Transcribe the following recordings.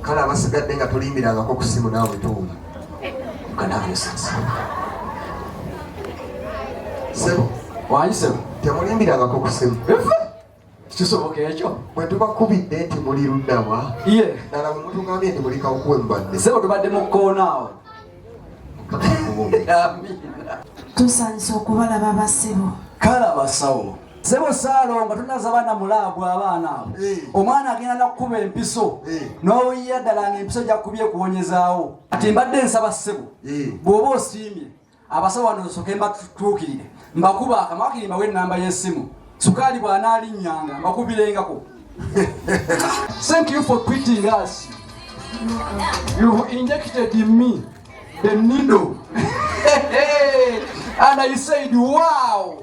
kale abasigadde nga tulimbirangako ku simu naawe tuwunya sebo wayisebo temulimbirangako ku simu kisoboka ekyo bwe tubakubidde nti muli luddawa ye nala bwe mutugambye nti muli kawukuwe mubadde sebo tubadde mu kkoonaawo tusanyusa okubalaba basebo kale abasawo Sebo Salongo tunaza bana mulago abana abo. Eh. Omwana agenda nakukuba empiso. Eh. N'oyiya ddala ng'empiso gya kubye kuwonyezaawo. Ati mbadde nsaba ssebo. Eh. Bw'oba osiimye abasawo wano nsooke mbatuukirire mbakuba akamakiri mbawe ennamba y'essimu. Sukaali bw'anaalinnyanga mbakubireengako. Thank you for quitting us. You've injected in me the needle. And I said, wow.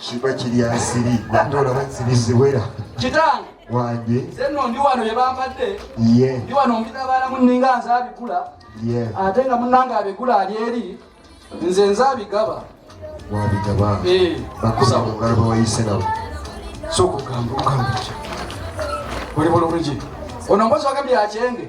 kiba kiri asiri ate olaba nsiri ziwera kitange wange zenno ndi wano yebampadde ye ndi wano mbidabaalamu nninga nze abigula ye ate nga munange abigula ali eri nze nze abigaba wabigaba eh. bakusa mu ngalo bawayise nabo sokugamba okugamba ki oli bulungi ono mbozi wagambye akyenge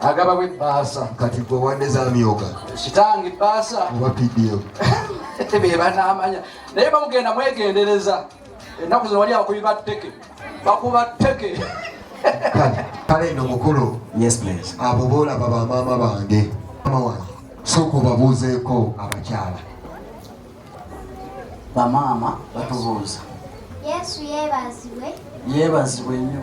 agabawo ebbaasa kati gwe wadde zamyoga kitange ebbaasa oba pdf bebanaamanya naye bamugenda mwegendereza ennaku zino wali akubiba tteke bakuba tteke kale no mukulu abo boolaba bamaama bange mama wange sooka obabuuzeeko abakyala bamaama batubuuza yesu yebazibwe yebazibwe nnyo